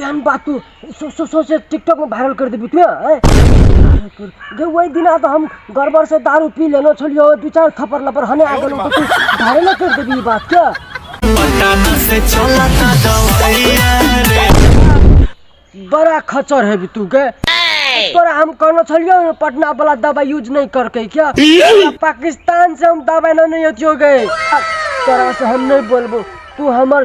एहन बात तू सोचे टिकटॉक में वायरल कर देबी तू हैं? गे वही दिना तो हम गड़बड़ से दारू पी लेलो छलियो दू चार थप्पड़ लपर हने आ गेलो तो तू वायरल कर देबी ई बात के बड़ा खचर है भी तू के तोरा हम कहना छलियो ना पटना वाला दवाई यूज नहीं करके क्या तोरा पाकिस्तान से हम दवाई ना नहीं होतियो गए तोरा से हम नहीं बोलबो तू हमर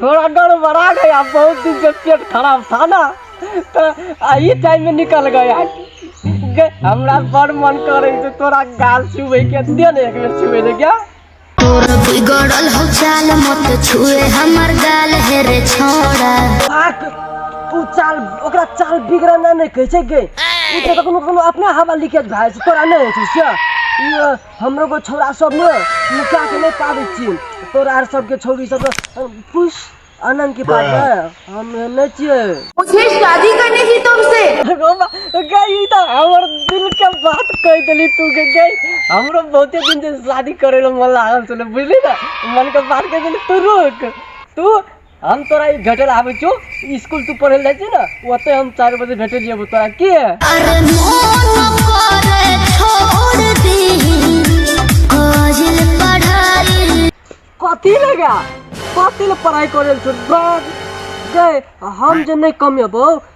थोड़ा गड़बड़ा गया बहुत दिन से पेट खराब था ना तो यही टाइम में निकल गया गे- हमरा बड़ मन करे तो तोरा गाल छुए के दे ने एक बेर छुए ले क्या तोर बिगड़ल हो चाल मत छुए हमर गाल हे रे छोड़ा आक तू चाल ओकरा चाल बिगड़ना नहीं कहे छै गे ई तऽ कखनो कखनो अपने हवा लीकेज भए जाइ छै तोरा नहि होइ छै से ई अ, हमरो को छौड़ा सब ने निकाह के नहीं पाबै छियै तोरा आर सबके छौड़ी सब अ, पुष आनंद के पास ने हम नहीं छियै मुझे शादी करनी थी तुमसे रोमा गई ई तऽ हमर दिल के बात कह देली तू के गई हमरो बहुते दिन से शादी करे ला मन लागल छले बुझली ना मन के बात कह देली तू रुक तू हम तोरा ई भेटल आबै छौ स्कूल तू पढ़े जाइ छी ने ओते हम चारि बजे भेटे जेबो तोरा की अरे मोन करे छोड़ दी काजल पढ़ाई कथी लगा कथी ले पढ़ाई करे छौ गए हम जे नहीं कमेबो